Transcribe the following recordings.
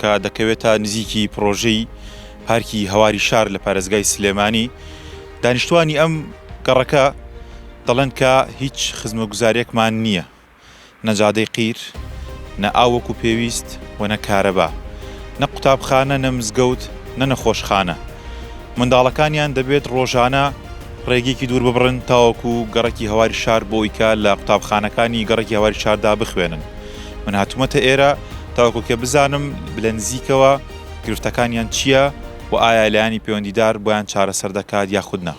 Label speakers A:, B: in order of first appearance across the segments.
A: کە دەکەوێت تا نزیکی پڕۆژەی پارکی هەواری شار لە پارێزگای سلێمانی دانیشتوانی ئەم گەڕەکە دەڵێن کە هیچ خزمەگوزارێکمان نییە نەجادەی قیر نە ئاوەک و پێویست و نە کارەبا نە قوتابخانە نە مزگەوت نە نەخۆشخانە منداڵەکانیان دەبێت ڕۆژانە ڕێگەیەکی دوور ببڕن تاوەکو گەڕەکی هەواری شار بۆیکە لە قوتابخانەکانی گەڕەکی هەواری شاردا بخوێنن من هاتومەتە ئێرە تاوەکو کە بزانم لە نزیکەوە گرفتەکانیان چییە و ئایا لایەنی پەیوەندیدار بۆیان چارەسەر دەکات یاخود نا.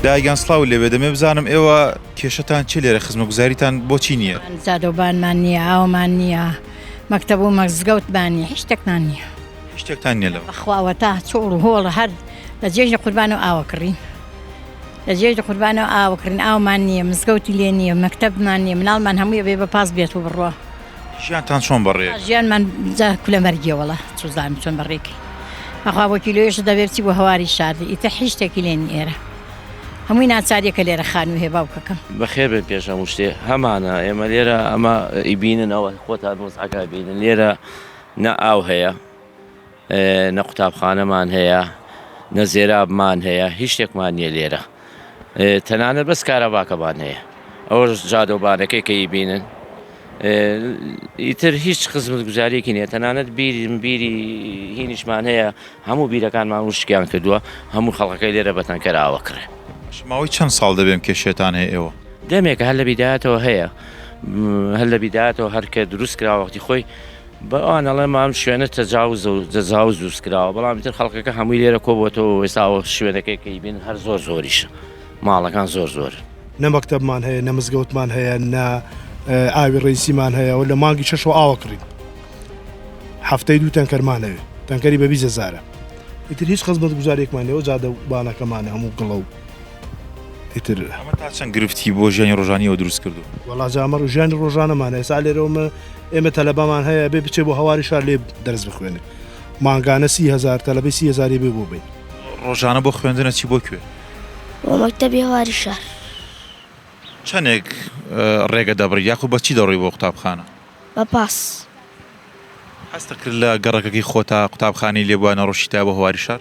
A: دایە گیان سڵاوت لێ بێ، دەمەوێ بزانم ئێوە کێشەتان چییە لێرە، خزمەتگوزاریتان بۆچی نییە؟ زادەوبانمان نییە،
B: ئاومان نییە، مەکتەب و مەزگەوتمان نییە، هیچ شتێکمان نییە. هیچ شتێکتان نیە
A: لەوە. بەخوا وەتا چۆڵ و
B: هۆڵە هەر لە جێژنە قوربانە و ئاوە کڕین لە جێژنە قوربانە و ئاوە کڕین ئاومان نییە مزگەوتی لێ نییە مەکتەبمان نییە مناڵمان هەمووی بێ بە پاس بێت و بڕوا ژیانتان
A: چۆن بەڕێ ژیانمان جا
B: کولە مەرگیەوەڵە چزانم چۆن بەڕێکی بەخوا بۆ کیلۆێش دەبێت چی بۆ هەواری شاردی ئیتە حیشتێکی لێن ئێرە هەمووی ناچاریەکە لێرە خانوو هێ باوکەکەم بەخێر بێن پێش هەموو
C: شتێ هەمانە ئێمە لێرە ئەمە ئیبینن ئەوە خۆتان وەزعەکە بینن لێرە نە ئاو هەیە نە قوتابخانەمان هەیە نە زێرابمان هەیە هیچ شتێکمان نییە لێرە تەنانەت بەس کارەباکەمان هەیە ئەوەش جادۆبانەکەی کەی بینن ئیتر هیچ خزمەت گوزارێکی نیە تەنانەت بیری بیری هینیشمان هەیە هەموو بیرەکانمان وشکیان کردووە هەموو خەڵەکەی لێرە بەتەنکەراوە کڕێ ماوەی چەند
A: ساڵ دەبێم کێشێتان هەیە ئێوە دەمێکە هەر لە بیداتەوە
C: هەیە هەر لە بیداتەوە هەرکە دروست کرا وەختی خۆی بە ئەوان ئەڵێم ئەم شوێنە تەجاوز و جەزاوز دروست کراوە بەڵام تر خەڵکەکە هەمووی لێرە کۆبووەوە وێستاوە شوێنەکەی کەی بین هەر زۆر زۆریشە ماڵەکان زۆر زۆر. نە مەکتەبمان
D: هەیە نە مزگەوتمان هەیە نە ئاوی ڕیسیمان هەیە و لە مانگی شەشەوە ئاوە کڕین هەفتەی دوو تەنکەرمانەوێ تەنکەری بە بیزەزارە ئیتر هیچ خزمەت گوزارێکمان لەوە جادە و بانەکەمانە هەموو گڵە و ئیتر چەند
A: گرفتی بۆ ژیانی ڕۆژانیەوە دروست کردو وڵاجامە ڕژانی
D: ڕۆژانەمانە ئێسا لێرەوەمە ئێمە تەلەبەمان هەیە ئەبێ بچێ بۆ هەواری شار لێ دەرس بخوێنێ مانگانە سی هزار تەلەبەی سی هزاری بێ بۆ بین ڕۆژانە بۆ
A: خوێندنە چی بۆ کوێ بۆ مەکتەبی
E: هەواری شار
A: چەندێک ڕێگە دەبڕی یاخو بە چی دەڕۆی بۆ قوتابخانە بە پاس هەستە کرد لە گەڕەکەکەی خۆتا قوتابخانەی لێبووە نەڕۆشیتا بۆ هەواری شار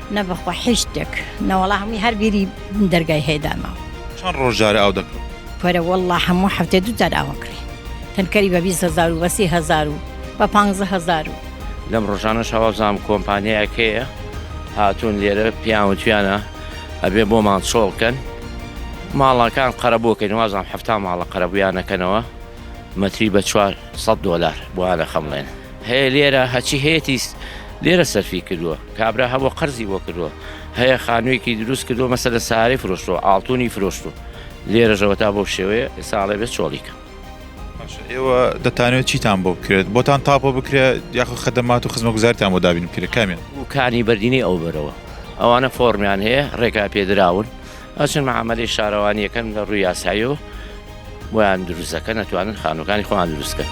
A: نە بەخوا حیچ تێک
B: نەوەڵا هەمووی هەر بیری دەرگای هەیدا ماوە. چەن ڕۆژ جارە
A: ئاو دەکڕن؟ کورە وەڵڵا هەموو
B: حەفتێ دوو جار ئاو ئەکڕی تەنکەری بە بیست هەزار و بە سی هەزار و بە پانزە هەزار و. لەم
C: ڕۆژانەشا وابزانم کۆمپانیایەک هەیە هاتوون لێرە پێیان وتویانە ئەبێ بۆمان چۆڵ کەن ماڵەکان قەرەبوو کەین وابزانم حەفتا ماڵە قەرەبوویان ئەکەنەوە مەتری بە چوار سەد دۆلار بۆیان ئەخەمڵێن هەیە لێرە هەچی هەیەتی لێرە سەرفی کردووە. کابرا هەبوە قەرزی بۆ کردوە هەیە خانویەکی دروست کردوە مەسەلەن سارەی فرۆشتوە ئاڵتونی فرۆشتو لێرەش ئەوەتا بەو شێوەیە ئێستا ئەڵێ بێ چۆڵی کەم. باشە
A: ئێوە دەتانەوێت چیتان بۆ بکرێت بۆتان تاپۆ بکرێ یاخۆ خەدەمات و خزمەگوزارتان بۆ دابین بکرێت کامیان؟ کانی بەردینی ئەو
C: بەرەوە ئەوانە فۆڕمیان هەیە ڕێکا پێدراون ئەچن مەعامەلەی شارەوانی ئەکەن لە ڕووی یاساییەوە بۆیان دروست دەکەن ئەتوانن خانووەکانی خۆیان دروست بکەن.